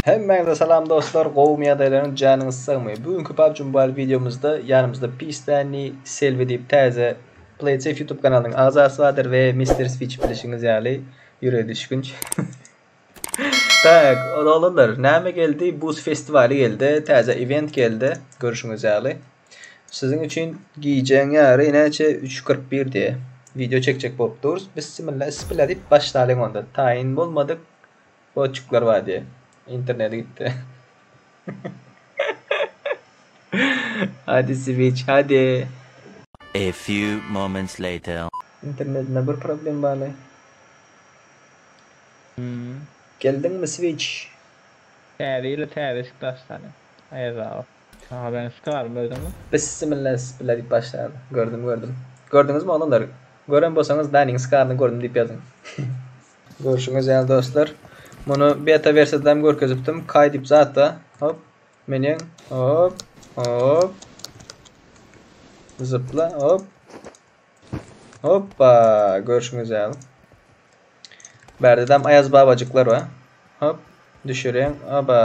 Hemmäňize salam dostlar, gowumy ýagdaýlaryň janyňyz sagmy? Bu günki PUBG Mobile wideomyzda ýanymyzda Pistani Selvi diýip täze PlaySafe YouTube kanalynyň agzasy bardyr we Mister Switch bilişiňiz ýaly ýüregi düşgünç. Tak, odalanlar, näme geldi? Buz festiwaly geldi, täze event geldi, görüşiňiz ýaly. Siziň üçin gijäň ýary näçe üç kyrk bir diýe wideo çekjek bolup durys bissimilla is bile diýip başlalyň onda taýyn bolmadyk goçuklar bar diýe interneti gitdi hadi siwiç hadi A few moments later. Internetinde bir problem barly. Geldiňmi Switch? Täze ýyla täze eşik daşlany. Aýazagaz. Aha ben skarym gördüňmi. Bissimillasbilla diýip başlaýardy. Gördüm gördüm. Gördüňizmi oglanlar. Gören bolsaňyz Danyň skaryny gördüm diýip ýazyň. Görşüňiz ýaly dostlar muny beta wersiýadam görkezipdim kay diýip zatda hop meniň hop hop zypla hop Hoppa, görşüňiz ýaly. Bärdedem Aýaz babajyklar bar. Hop, düşüreň. Aba.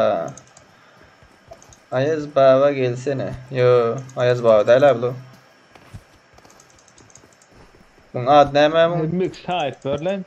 Aýaz baba gelsene. Yo, Aýaz baba däl abi bu. Muň ady näme muň? Mix Hyperlink.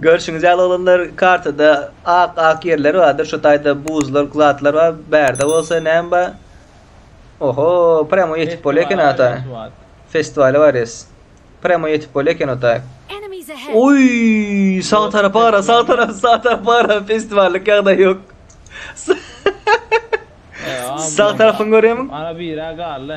Görşüňiz ýaly oglanlar kartada ak ak ýerler bardyr şu taýda buzlar zatlar bar bärde bolsa näme bar oho premo ýetip bolýar eken ata festiwala barýas premo ýetip bolýar eken ota oý sag tarapa gara sag tarap sag tarapa gara festiwallyk ýagdaý ýok sag tarapyňy görýärmiň ana biri galdy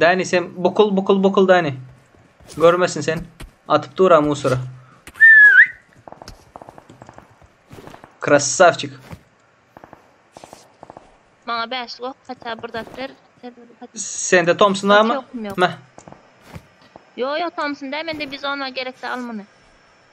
Dani sen bukul bukul bukul Dani. Görmesin sen. Atyp dura musora. Krasavçik. Maňa 5 gok, haça bir zat ber. Sende Thompson barmy? Meh. Yo yo Thompson da mende bizon bar gerekse al muny.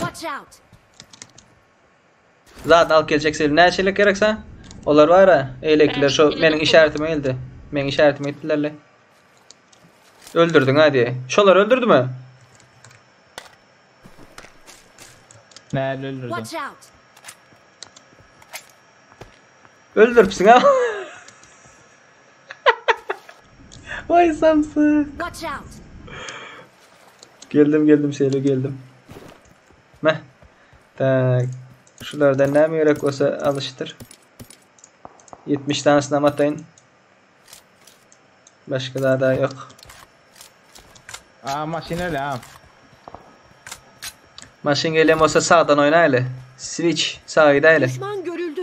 Watch out! Zat alyp geljek sel. Näçe elek gerek sen? Olar var ha. Elekler şu meniň işaretime geldi. Meniň işaretime gitdiler le. Öldürdin ha diye. Şolar öldürdü mü? Näle öldürdüm? Watch out! Öldürüpsiň ha. Vay samsyk. Watch out! Geldim geldim şeýle geldim. Meh. Tak. Şulardan näme gerek bolsa alyşdyr. 70 tanesini hem ataýyn. Başga zada ýok. Aa maşyn öyle ha. Maşyn gelen bolsa sağdan oýnaýly. Switch sağa gidäýli. Düşman görüldü.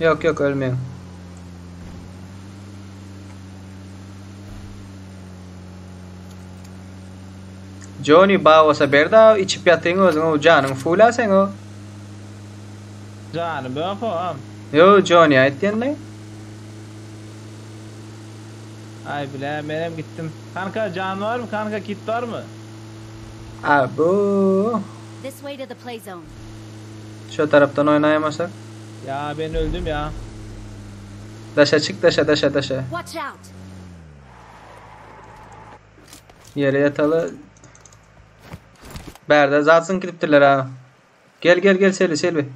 Ýok ýok ölmeň. Joni baosa berda içip ýatyň özüň o janyň fula seň o. Jany böp oam. Yo Joni aýt diýende. Ay bile menem gitdim. Kanka jan barmy kanka kit barmy. Abo. Şo tarapdan oýnaýmasak. Ýa men öldüm ýa. Daşa çyk daşa daşa daşa. Watch out. Ýere ýataly. Bärde zat zyňyp gidipdirler ha. Gel gel gel Selbi Selbi.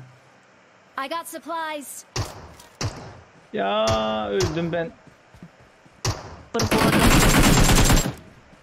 I got supplies. Ýa öldüm ben. Bir gordan.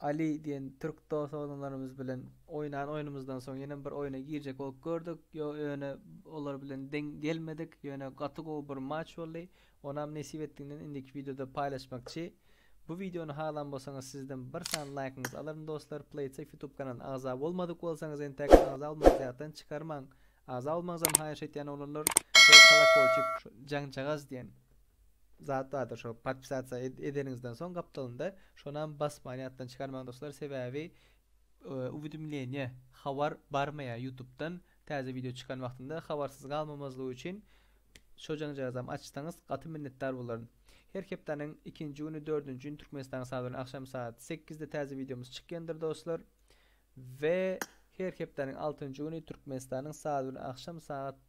Ali diýen türk dos-doganlarymyz bilen oýnan oýnumyzdan soň ýene bir oýna girjek bolup gördük. Ýo ýöne olar bilen deň gelmedik. Ýöne gaty gowy bir matç boldy. Onam nesip etdiginden indiki wideoda paýlaşmakçy. Bu wideony halan bolsaňyz sizden bir sany laýkyňyzy alaryn dostlar. Playtsafe youtube kanalyna agza bolmadyk bolsaňyz entäk agza bolmaňyzy ýatdan çykarmaň. Agza bolmaňyzam haýyş etýän oglanlar we kolakoýçik jaňjagaz diýen. zat bardyr şo podpisasiýa edeniňizden soň gapdalynda şonam basman ýatdan çykarmaň dostlar sebäbi uwidimleniýe habar barmaýar ýutubdan täze wideo çykan wagtynda habarsyz galmamazlygy üçin şo jaňjagazam açsaňyz gaty minnetdar bolaryn her hepdäniň ikinji güni dördünji gün türkmenistanyň sagat bilen agşam sagat sekizde täze wideomyz çykýandyr dostlar we her hepdäniň altynjy güni türkmenistanyň sagat bilen agşam sagat